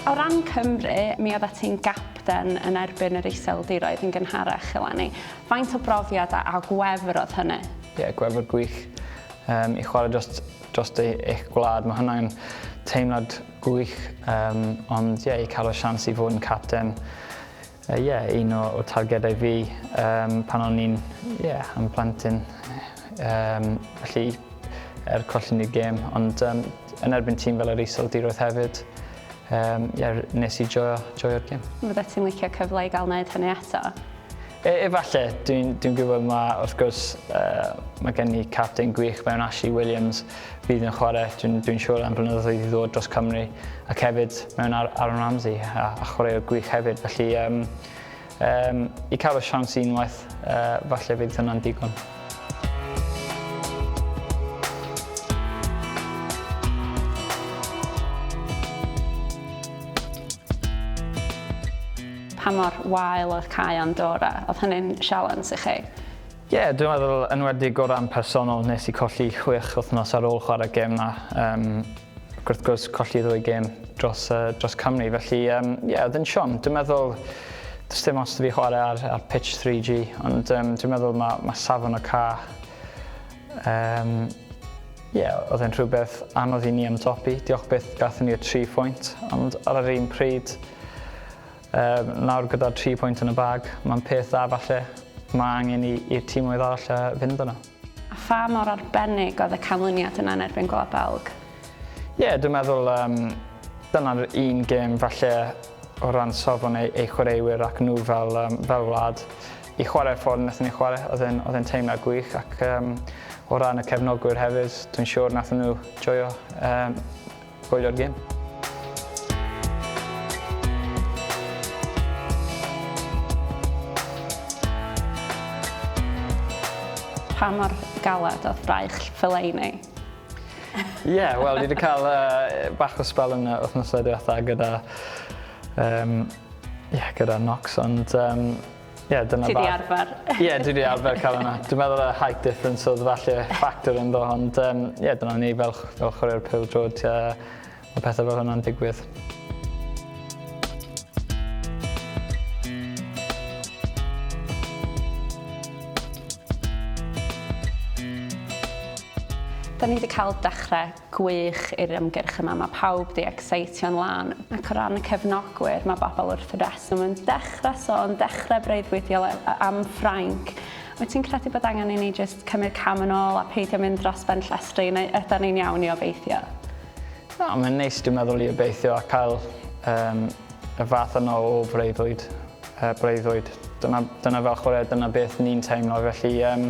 O ran Cymru, mi oeddet ti'n gapten yn erbyn yr Iseldiroedd yn gynharach eleni. Faint o brofiad a gwefr oedd hynny? Ie, gwefr gwych. Um, I chwarae dros, dros eich gwlad, mae hwnna'n teimlad gwych. Um, ond ie, i cael y sians i fod yn capten Yy ie, un o o targedau fi yym pan o'n i'n ie yn plentyn yym felly er colli ni'r gêm ond yym yn erbyn tîm fel yr Iseldiroedd hefyd yym ie r- nes i joio joio'r gêm. Fyddet ti'n licio cyfle i gael neud hynny eto? E- efalle, dwi'n dwi'n gwybod ma' wrth gwrs yy ma' gen ni capten gwych mewn Ashley Williams Bydd yn chwarae, dwi'n dwi siŵr, am blynyddoedd i ddod dros Cymru ac hefyd mewn ar Aaron Ramsey a, a chwaraewr gwych hefyd. Felly, um, um, i cael y siawns unwaith, uh, falle fydd hwnna'n digon. Pa mor wael oedd cael Andorra? Oedd hynny'n sialens i chi? Ie, dwi'n meddwl yn enwedig o ran personol, nes i colli chwech wythnos ar ôl chwarae gêm 'na, yym ac wrth gwrs colli ddwy gêm dros yy dros Cymru felly yym ie o'dd yn siom. Dwi'n meddwl do's dim ots 'da fi chware ar ar pitch three gee ond yym dwi'n meddwl ma' ma' safon y cae yym ie o'dd e'n rhywbeth anodd i ni ymdopi. Diolch byth gathon ni'r tri phwynt ond ar yr un pryd Yy, nawr gyda'r tri pwynt yn y bag, mae'n peth dda falle, mae angen i, i'r tîmoedd arall yy, fynd yno. A pha mor arbennig oedd y canlyniad yna yn erbyn Gwlad Belg? Ie, yeah, dwi'n meddwl um, dyna'r un gêm falle o ran safon ei, ei chwaraewyr ac nhw fel, um, fel wlad. I chwarae'r ffordd wnaethon ni chwarae, oedd e'n, oedd e'n teimlad gwych ac um, o ran y cefnogwyr hefyd, dwi'n siŵr wnaethon nhw joio um, Gwylio'r gêm. Pa mor galed oedd braich Fellaini? Ie, yeah, wel, dwi wedi cael uh, bach o spel yn wythnosau diwetha gyda, um, yeah, gyda Nox, ond um, Ie dyna bach... Ti 'di arfer. Ie dwi 'di arfer ca'l wnna. Dwi'n meddwl y height difference odd falle factor ynddo ond yym ie dyna ni fel ch- fel chwaraewyr pêl-drod yy ma' pethe fel hwnna'n digwydd. Da ni 'di ca'l dechre Gwych i'r ymgyrch yma, mae pawb 'di ecseitio'n lân. Ac o ran y cefnogwyr, mae bobl wrth reswm yn dechrau sôn, dechrau breuddwydio am Ffrainc. Wyt ti'n credu bod angen i ni jyst cymryd cam yn ôl a peidio mynd dros ben llestri, neu ydan ni'n iawn i obeithio? Na, mae'n neis dwi'n meddwl i obeithio a cael um, y fath yno o freuddwyd. Uh, breuddwyd. Dyna, dyna fel chwarae, dyna beth ni'n teimlo, felly um,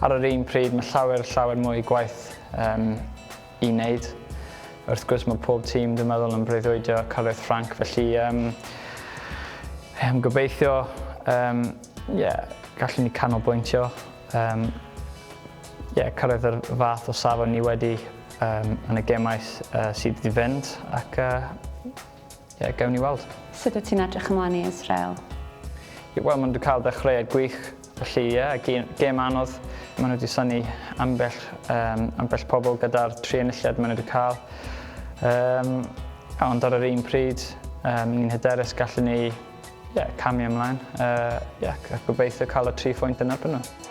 ar yr un pryd mae llawer, llawer mwy gwaith um, i wneud. Wrth gwrs mae pob tîm dwi'n meddwl yn breuddwydio cyrraedd Ffranc, felly um, um, gobeithio um, yeah, gallwn ni canolbwyntio um, yeah, cyrraedd yr fath o safon ni wedi um, yn y gemau uh, sydd wedi fynd ac uh, Ie, gewn ni weld. Sut wyt ti'n edrych ymlaen i Israel? Ie, wel, maen nhw wedi cael ddechreuad gwych, felly ie, yeah, gêm anodd. Maen nhw wedi syni ambell, um, ambell pobl gyda'r tri enilliad maen nhw wedi cael. Um, ond ar yr un pryd, um, ni'n hyderus gallen ni yeah, camu ymlaen uh, yeah, a gobeithio cael y tri phwynt yn erbyn nhw.